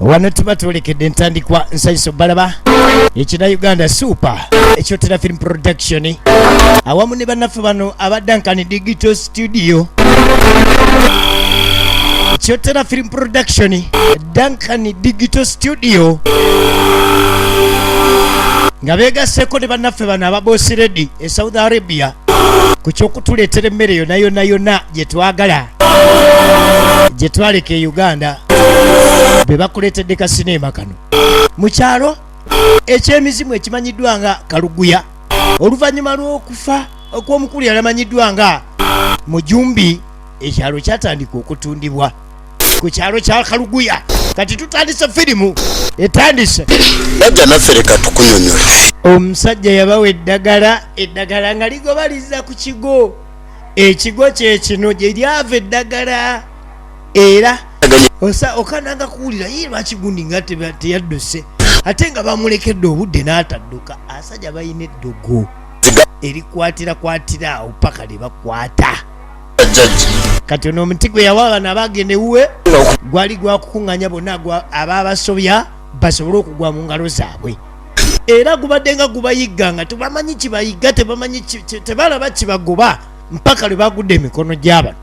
wano tuba twolekede entandikwa nsayiso balaba ekina uganda super ekyotera film production awamu ne bannaffe bano aba dankani digital studio ekyotera film production dankani digital studio nga begaseko ne bannaffe bano ababosi redi e saudi arabia ku kyokutuleetera emmere yona yona yona gye twagala gye twaleka e uganda be bakuleetedde kasineema kano mu kyalo eky'emizimu ekimanyiddwa nga kaluguya oluvannyuma lw'okufa okw'omukulu yalamanyiddwa nga mujumbi ekyalo kyatandika okutundibwa ku kyalo kya kaluguya kati tutandise firimu etandise bajja naffe leka tukunyonyola omusajja yabawa eddagala eddagala nga ligobaliza ku kigo ekigo kyekino gye lyava eddagala era okananga kuwulira ye lwaki gundi nga teyadduse ate nga bamulekedde obudde n'atadduka asajja balina eddogo erikwatirakwatira awo paka lye bakwata kati ono omuti gwe yawa bano abagenda ewuwe gwali gwakukuŋŋanya bonna abaabasobya basobole okugwa mu ngalo zaabwe era gubadde nga gubayigga nga tebamanyi kibayigga tebamanyi tebalaba kibagoba mpaka lwe bagudde emikono gy'abano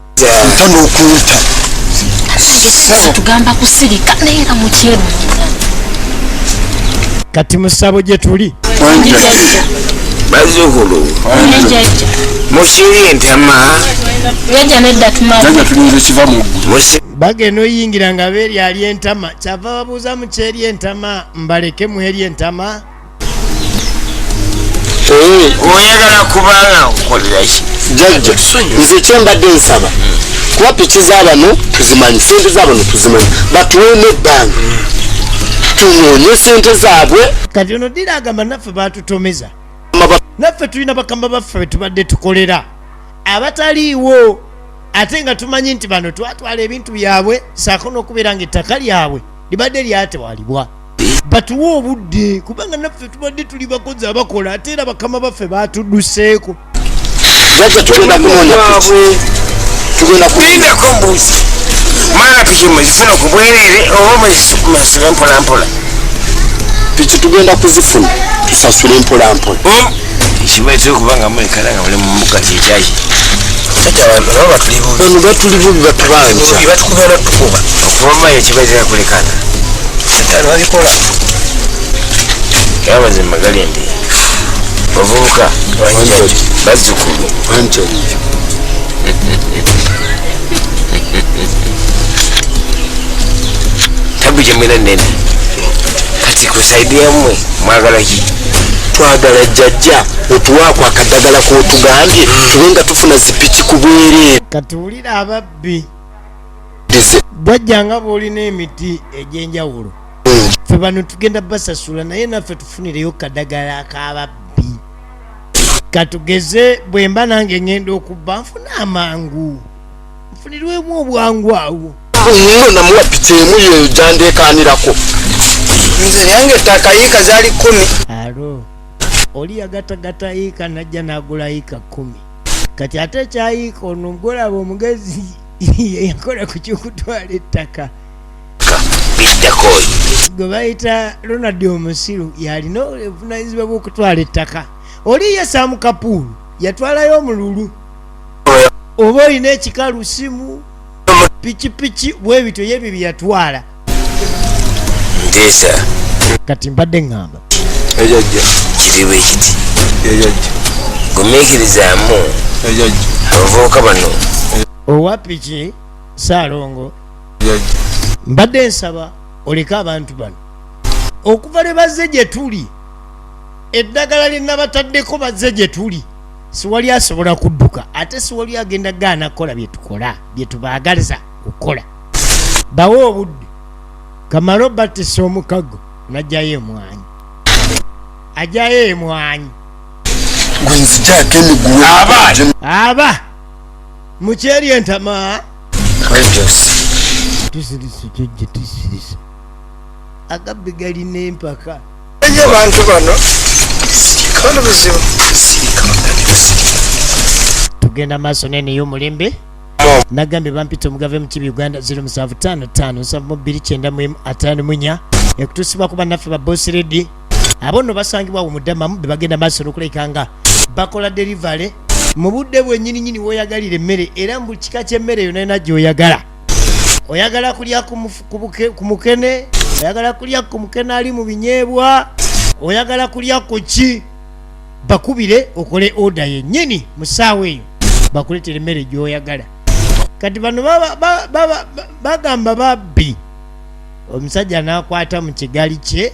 kati musabo gye tuli bazukulu musiri ntama bagenda oyingira nga beeri ali entama kyava babuuza mukyeri entama mbaleke muheri entama oyagala kubanga nkukoleraki jajja nze kyembadde nsaba kuba piki zabano tuzimanyi sente zabano tuzimanyi batuweemu ebbanga tunoonye sente zaabwe kati ono dira agamba naffe batutomeza naffe tulina bakama baffe betubadde tukolera abataliiwo ate nga tumanyi nti bano twatwala ebintu byabwe saako n'okubeera nga ettaka lyabwe libadde lyatewalibwa batuwe obudde kubanga naffe tubadde tuli bakozi abakola ate era bakama baffe batuduseeko jajja tugenda kunoonya tugenda kulindako mbuuzi mwana piki muzifuna ku bwerere oba muzisasule mpolampola piki tugenda kuzifuna tusasule mpolampola hmm? kibaitire kubanga mwekala nga muli mumuka kyekyaki batuli bubi batubanja okubayo kibaitira kulekana yabazimba galembe bavubuka bazzukulu tabu gyemwena nene kati kusaidi yamwe mwagala ki twagala jjajja otuwaako akadagala kotugambye tube nga tufuna zipiki ku bwereere kati wulira ababbi jajja nga bwolina emiti egyenjawulo fe bano tugenda basasula naye naffe tufunireyo kadagala kababbi katugeze bwemba nange ngenda okubba nfuna amangu nfunirwemu obwangu awo nyo namuwa piki emu yeyo gyandekanirako nze yange ettaka yiika zali kumi alo oli yagatagata yiika najja nagula yiika kumi kati ate ekyayiika ono mugolaba omugezi yakola ku kyokutwala ettaka gwe bayita ronald omusiru yalina obuvunanyizibwa bwokutwala ettaka oli ye samu kapuulu yatwalayo omululu oba olina ekikalu simu pikipiki bwebityo yebyo byeyatwala nteesa kati mbadde ŋŋamba ejajja kiri bwe kiti ejajja gumiikirizaamu ejajja abavubuka bano owapiki saalongo mbadde nsaba oleke abantu bano okuva lwe bazze gye tuli eddagala lye nabataddeko bazze gye tuli siwali asobola kudduka ate siwali agenda gaana kukola bye tukola bye tubaagaliza okukola bawe obudde kamala obatisa omukago najjayo emwanyi ajayo emwanyi aba mukyeri entama kisirise kyo gye kisirise agabbi gali n'empaka enyo abantu bano sirikano buzibu sirikano tugenda maaso neneyo omulembe nagambye bampita omugave mukibi uganda 0755 74 94 ekutusibwa kuba naffe ba boss lady abo nno basangibwa awo mudamamu be bagenda maaso n'okulabika nga bakola derivale mu budde bwenyininyini woyagalira emmere era mu kika ky'emmere yona yona gyoyagala oyagala kulya ku mukene oyagala kulya ku mukene ali mu binyeebwa oyagala kulya ku ki bakubire okole oda yennyini mu ssaawa eyo bakuleetera emmere gyoyagala kati bano bagamba babbi omusajja n'akwata mu kigali kye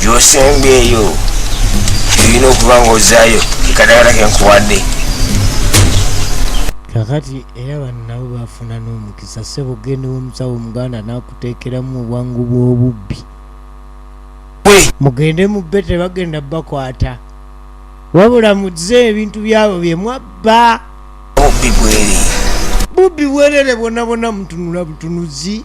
gyosembye eyo erina okuba nga ozayo ekadagala kenkuwadde kakati era bannabo bafuna n'omukisa sebo ogende womusawo omuganda nakuteekeramu obwangu bw'obubbi mugende mubbe tebagenda bakwata wabula muze ebintu byabo bye mwabba bubbi bwerere bubbi bwerere bwona bwona mutunula butunuzi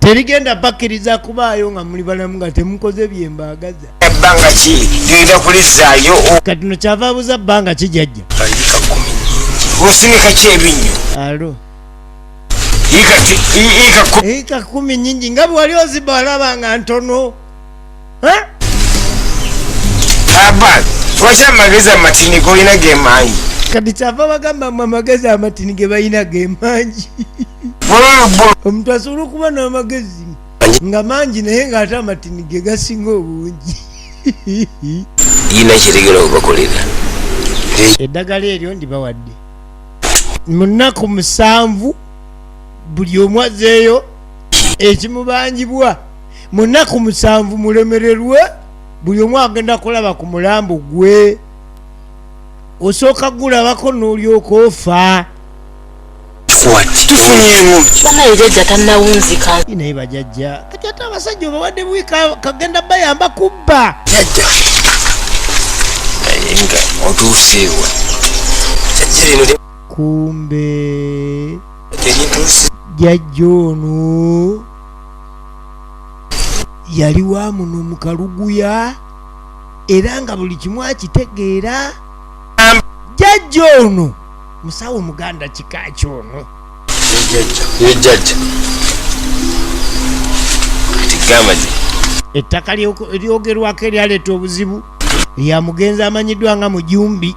tebigenda bakkiriza kubaayo nga muli balamu nga temukoze byembaagaza ebbanga ki genda kulizzaayo kati no kyava abuza bbanga ki jajja osinika ki ebinnyo alo ika kumi nyingi nga bwewali oziba olaba nga ntono Abad, lwaki amagezi amatini golina gemangi? Kati kyava bagamba mwe amagezi amatini ge balina gemangi. Omuntu asobola okuba n'amagezi nga mangi naye ng'ate amatini ge gasinga obungi. Yina kyetegera okubakolera. Eddagala eryo ndibawadde. Mu nnaku musanvu buli omu azeeyo ekimubangibwa. mu nnaku musanvu mulemererwe buli omu agenda kulaba ku mulambo gwe osooka gulabako n'olyoka ofa naye bajajja kati ate abasajja obawadde buwi kagenda bayamba kubba jajja naye nga otuuseewa jajja lino kumbe jajja ono yali wa muno mu kaluguya era nga buli kimu akitegeera jajja ono musawo muganda kika kyono ettaka lyogerwako eryaleeta obuzibu lya mugenzi amanyiddwa nga mujumbi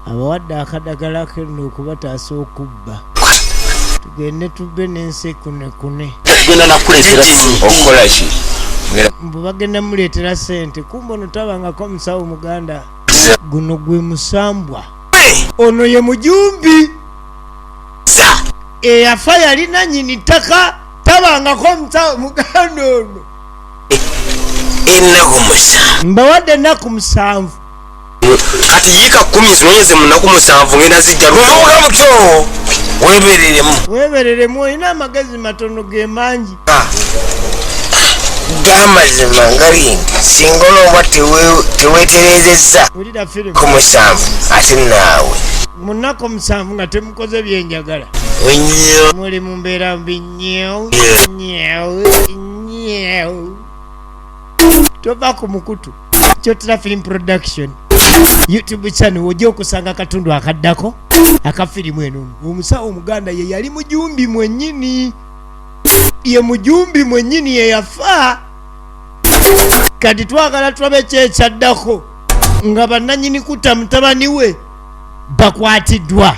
abawadde akadagala kenno okubataasa okubba tugende tubbe n'ensi kunekune mbu bagenda muleetera sente kumba ono tabangako omusawo muganda guno gwe musambwa ono ye mujumbi eyafa yalina nyini ttaka tabangako omusawo muganda ono mbawadde ennaku musanvu kati yiika kumi zinonyeze munaku musanvu ngenda zijja luyobola mutyo webereremu webereremu olina amagezi matono gemangi ah. gamazima ngalindi singa olomba teweterezeza ku musanvu ate naawe munaku omusanvu nga temukoze byenjagala muli mu mbeera mbi nyeo nyeo nyeo tova ku mukutu kyotera film production youtube channel ojja okusanga akatundu akaddako aka firimu eno omusawo omuganda ye yali mujumbi mwenyini ye mujumbi mwenyini yeyafa kati twagala tulabe kyekyaddako nga bananyini kutta mutabani we bakwatiddwa